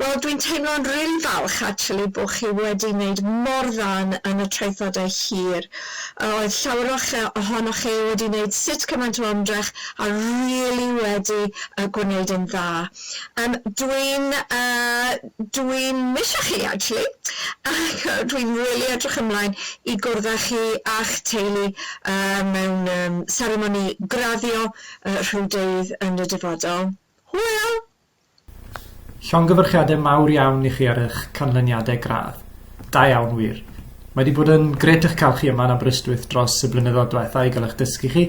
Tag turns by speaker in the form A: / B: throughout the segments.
A: Wel dwi'n teimlo'n rili falch actually bo chi wedi neud mor dda yn yn y traethodau hir yy oedd llawer o'ch yy ohonoch chi wedi neud sut cymaint o ymdrech a rili wedi yy gwneud yn dda. Yym dwi'n yy dwi'n misio chi actually ac yy dwi'n rili edrych ymlaen i gwrdd â chi a'ch teulu yy mewn yym seremoni graddio yy rhyw dydd yn y dyfodol. Hwyl! Llongyfarchiadau
B: mawr iawn i chi ar eich canlyniadau gradd. Da iawn wir. Mae wedi bod yn gret eich cael chi yma yn Aberystwyth dros y blynyddoedd diwetha' i gael eich dysgu chi.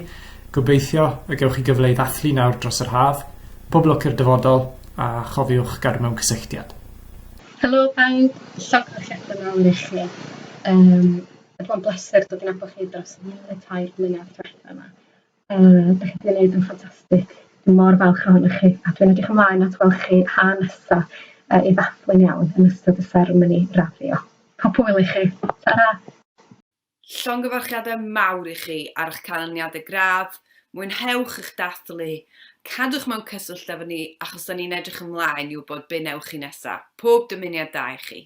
B: Gobeithio y gewch chi gyfle i ddathlu nawr dros yr haf. Pob lwc i'r dyfodol a chofiwch gadw mewn cysylltiad. Helo
C: bawb, llongyfarchiadau mawr i chi. Mae wedi bod yn bleser dod i nabod chi dros y tair blynedd diwetha' 'ma. Yy, dach chi 'di neud yn ffantastig. Dwi mor falch ohonoch chi, a dwi'n edrych ymlaen at weld chi 'ha nesa, yy, i ddathlu'n iawn yn ystod y seremoni raddio. Pob hwyl i chi. Tara! Llongyfarchiadau
D: mawr i chi ar eich canlyniadau gradd, mwynhewch eich dathlu, cadwch mewn cyswllt efo ni achos 'da ni'n edrych ymlaen i wybod be wnewch chi nesa'. Pob dymuniad da i chi.